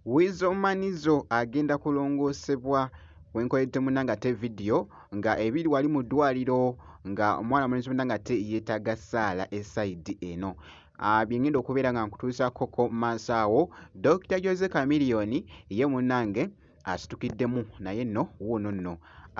Weasel Manizo agenda kulongoosebwa wenkoledde muna nga te vidiyo nga ebiri wali mu ddwaliro nga omwana mulenzi muna nga te yeetaaga ssaala esaidi eno ah, byengenda okubeera nga nkutuusakkoko maaso awo Dr Jose Chameleone ye munange asitukiddemu naye nno wuuno nno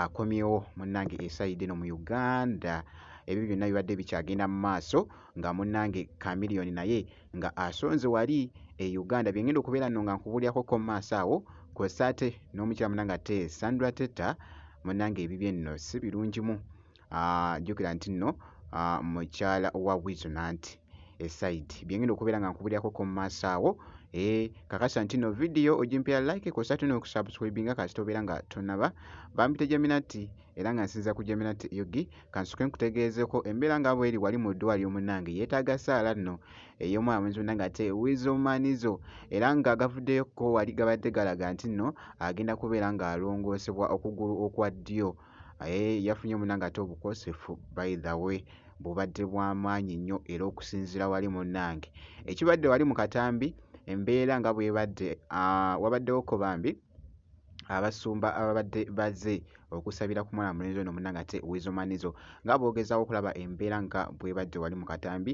akomyewo munnange esayidi eno mu Uganda ebyo byonna bibadde bikyagenda mu maaso nga munnange Chameleone naye nga asonze wali e Uganda bye ngenda okubeera nno nga nkubuulirako ko mu maaso awo kw'ossa ate n'omukyala munnange ate Sandra Teta munnange ebibye nno si birungimu. aa jjukira nti nno mukyala wa wizo nanti esaidi byengenda okubeera nga nkubirirako ko mu maaso awo ee kakasa nti nno vidiyo ogimpera like kosa tuna okusubscribinga kasita obeera nga tonaba bampita jaminati era nga nsinza ku jaminati yogi kansuke nkutegeezeko embeera nga bweri wali mu ddwaliro munnange yeetaaga saala nno ey'omwana mwenzi munnange ate wizo manizo era nga gavuddeyoko wali gabadde galaga nti nno agenda kubeera ng'alongoosebwa okugulu okwa ddyo Eh, yafunye munange ate obukosefu by the way bubadde bwamaanyi nnyo era okusinzira wali munange ekibadde wali mu katambi embeera nga bwebadde ah, wabaddewo ko bambi abasumba ababadde baze okusabira ku mwana mulenzi ono munange ate wizomanizo nga boogezaako okulaba embeera nga bwebadde wali mu katambi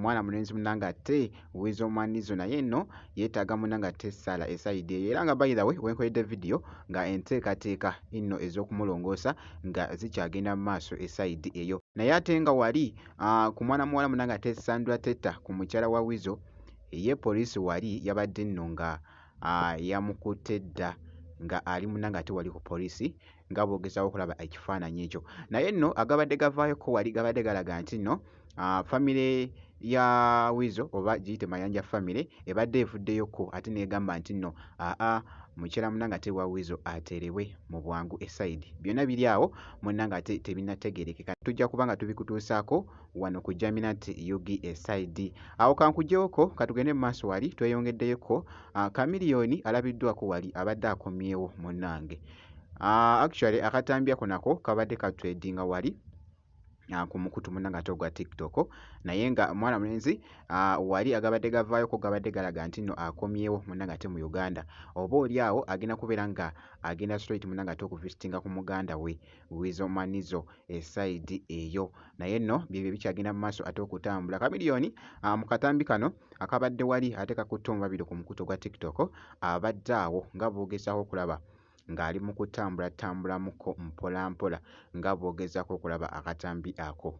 mwana mulenzi munanga ate wiza omwanizo naye eno yetaaga munanga ate esaala esayidi eyo era nga bayidawe wenkoledde vidiyo nga enteekateeka eno ez'okumulongoosa nga zikyagenda mu maaso esayidi eyo naye ate nga wali ah, ku mwana muwala munanga ate sandra teta ku mukyala wa wizo eye poliisi wali yabadde nno nga yamukutte dda ng'ali muna ng'ate wali ku poliisi nga bw'ogezaako okulaba ekifaananyi ekyo naye nno agabadde gavaayoko wali gabadde galaga nti nno famire ya wizo oba giyite mayanja famire ebadde evuddeyoko ate neegamba nti nno aa mukyala muna ng'ate wa wizo ateerebwe mu bwangu esayidi byonna biri awo munna ng'ate tebinategeerekeka tujja kuba nga tubikutuusaako wano ku Jaminat Yugi Esaidi. Awo kankujewoko katugende mu maaso wali tweyongeddeyoko ah, Kamiliyoni alabiddwako wali abadde akomyewo munnange. Ah, actually akatambiyako nako kabadde katwedinga wali ah, ku mukutu muna ngate ogwa tiktok naye nga mwana mulenzi wali agabadde gavaayoko gabadde galaga nti nno akomyewo muna ngate mu uganda oba oli awo agenda kubeera nga agenda straight muna ngate okuvisitinga ku muganda we Weasel Manizo esayidi eh, eyo. Naye nno byebyo ebikyagenda mu maaso ate okutambula. Chameleone ah, mu katambi kano akabadde wali ate kakutte omubabiro ku mukutu gwa TikTok abadde awo nga boogezaako okulaba ng'ali mu kutambula tambulamuko mpolampola nga boogezaako okulaba akatambi ako.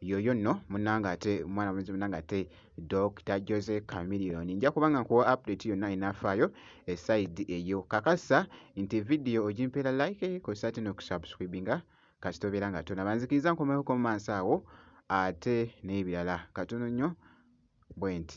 yoyo nno munange ate mwana mwenzi munange ate Dr Jose Chameleon nja kuba nga nkuwa update yonna enafaayo eside eyo kakasa nti vidiyo ogimpeera like kosa ate nokusubscribinga kasita obeera nga tona banzikiriza nkomewo komansi awo ate n'ebirala katono nnyo bwenti